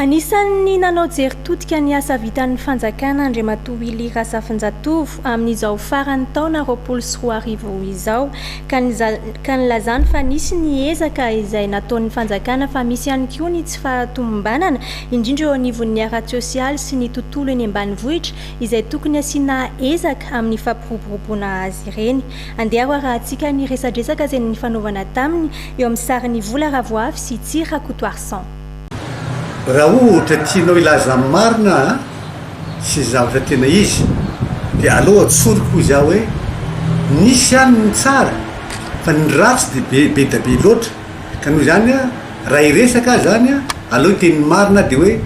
Anisan'ny nanao jery todika ny asa vitan'ny fanjakana Andriamatoa Willy Razafinjatovo amin'izao faran'ny taona roapolo sy roa arivo izao ka ka nilazany fa nisy ny ezaka izay nataon'ny fanjakana fa misy ihany koa ny tsy fahatomombanana indrindra eo anivon'ny ara-tsosialy sy ny tontolo eny ambanivohitra izay tokony asiana ezaka amin'ny fampiroboroboana azy ireny. Andeha ho arahantsika ny resadresaka izay nifanaovana taminy eo amin'ny sarin'i Vola Ravoavy sy Tsy Rakotoarison. Raha ohatra tianao hilaza ny marina an, sy ny zavatra tena izy, dia aleo atsoriko hoy za hoe, nisy ihany ny tsara fa ny ratsy dia be, be dia be loatra, ka noho izany an, Raha hiresaka aza any a, aleo hiteny ny marina dia hoe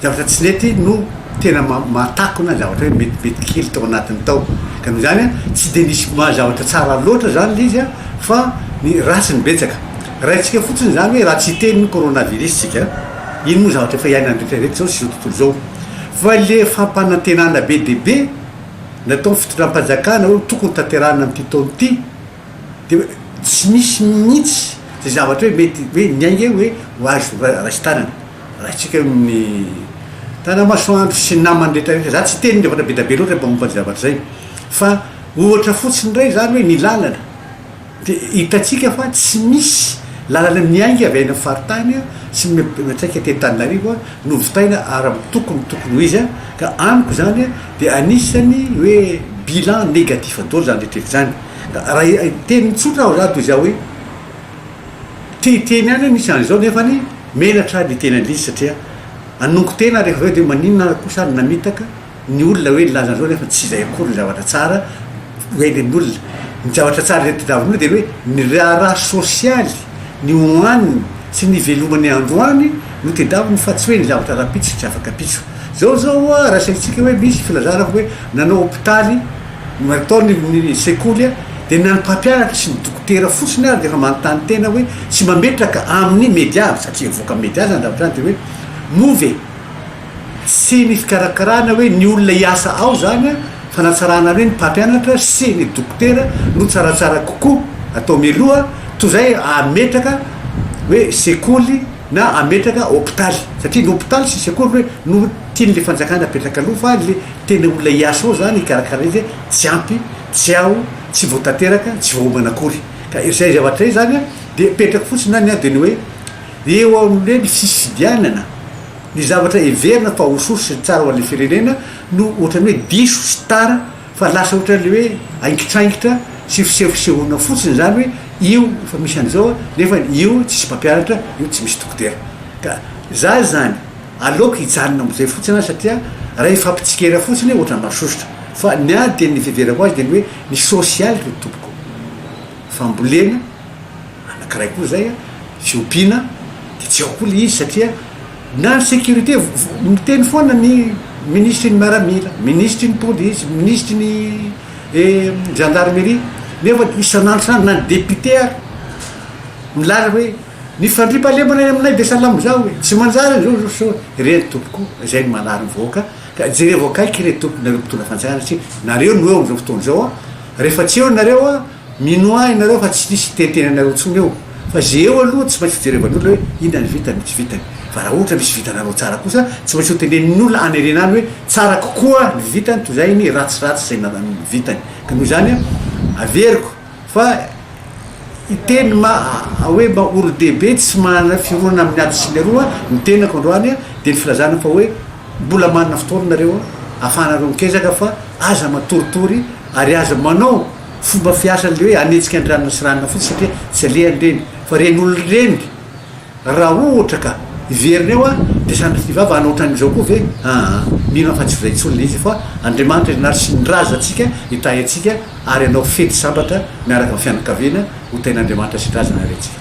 zavatra tsy nety no tena mahatakona zavatra hoe metimety kely tao anatiny tao. Ka noho izany a, tsy dia nisy maha zavatra tsara loatra izany ilay izy a, fa ny ratsy no betsaka. Raintsika fotsiny izany hoe raha tsy hiteny ny coronavirus tsika, ino moa zavatra efa iainany rehetra rehetra izao sy izao tontolo izao. Fa ilay fampanantenana be dia be nataon'ny fitondram-panjakana hoe tokony tanterahina amin'ity taona ity Dia hoe tsy misy mihitsy izay zavatra hoe mety hoe ny ainga eo hoe ho azy raisin-tanana. Raisitsika eo ny Tanamasoandro sy ny namany rehetra rehetra. Za tsy hiteny zavatra bedabe loatra mba momba ny zavatra izay fa ohatra fotsiny indray izany hoe ny lalana. Dia hitantsika fa tsy misy lalana miainga avy any amin'ny faritany sy miantraika aty Antananarivo novitaina ara-mitoko ny tokony ho izy ka amiko izany dia anisan'ny hoe bilan négatif daholo izany rehetra rehetra izany. Raha teny tsotra aho zany toy izao hoe te hiteny ihany aho misy an'izao nefany menatra aho ny hiteny an'izy satria hanongo tena aho rehefa avy eo dia maninona ary kosa aho no namitaka ny olona hoe nilaza an'izao nefa tsy izay akory ny zavatra tsara hoentin'ny olona. Ny zavatra tsara izay tadiaviny olona dia hoe ny raharaha sosialy, ny hohaniny sy ny ivelomany androany no tedaviny fa tsy hoe ny zavatra rahampitso sy afaka pitso. Izao izao oa raha asaintsika hoe misy filazana hoe nanao hopitaly, Maritao ny sekoly dia na ny mpampianatra sy ny dokotera fotsiny ary dia efa manontany tena hoe sy mametraka amin'ny media avy satria hivoaka amin'ny media izany zavatra izany dia hoe moa ve tsy ny fikarakarana hoe ny olona hiasa ao izany an fanatsarana hoe ny mpampianatra sy ny dokotera no tsaratsara kokoa atao mialoha toa izay ametraka hoe sekoly na hametraka hopitaly satria ny hopitaly sy sekoly hoe no tian'le fanjakana apetraka aloha fa le tena olona hiasa ao zany hikarakara izy tsy ampy tsy ao tsy voatateraka tsy voaomana akory ka izay zavatra izay zany de apetrako fotsiny any dia ny hoe eo amin'le ny fifidianana ny zavatra heverina fa ho source tsara ho an'le firenena no ohatran'ny hoe diso sy tara Fa lasa ohatran'ilay hoe aingitraingitra sy fisehosehoana fotsiny izany hoe io efa misy an'izao nefa io tsisy mpampianatra, io tsy misy dokotera. Ka za izany aleoko hijanona amin'izay fotsiny satria raha hifampitsikera fotsiny ohatran'ny masosotra. Fa ny ahy dia ny fiheverako azy dia ny hoe ny sosialy ry tompoko fambolena, Anankiray koa zay an, tsy ompiana de tsy ao koa le izy satria na sécurité miteny foana ny ministry ny miaramila, ministry ny polisy, ministry ny gendarmerie nefa isan'andro na ny député ary milaza hoe ny fandriampahalemana any aminay dia salama izao e, tsy manjary izao izao sy izao, ireny tompoko a, izay no mahalala ny vahoaka ka jereo akaiky re tomponareo mpitondra fanjakana satria nareo no eo amin'izao fotoana izao a, rehefa tsy eo nareo a. Mino ahy nareo fa tsy misy tenten anareo tsony eo fa ze eo aloha tsy maintsy jerevan olona hoe inona ny vitany tsy vitany fa raha ohatra misy vitanareo tsara kosa tsy maintsy ho tenenin olona any arena any hoe tsara kokoa ny vitany toy zay ny ratsy ratsy zay narany ny vitany ka noho izany averiko fa iteny ma hoe mba olodehibe tsy manana fironana amin ato sy ny aroa ny tenako androany dia ny filazana fa hoe mbola manana fotoana nareo afahanareo mikezaka fa aza matoritory ary aza manao Fomba fiasa an'le hoe hanetsika ny ranona sy ranona fotsiny satria tsy alehany ireny fa ren'olona ireny raha ohatra ka hiverina eo aho dia sanatria vava hanao ohatran'izao koa ve aa mino aho fa tsy izay intsony ilay izy fa Andriamanitra ianary sy ny razantsika hitahy antsika ary hanao fety sambatra miaraka amin'ny fianakaviana ho tahin'Andriamanitra sy ny razana re tsika.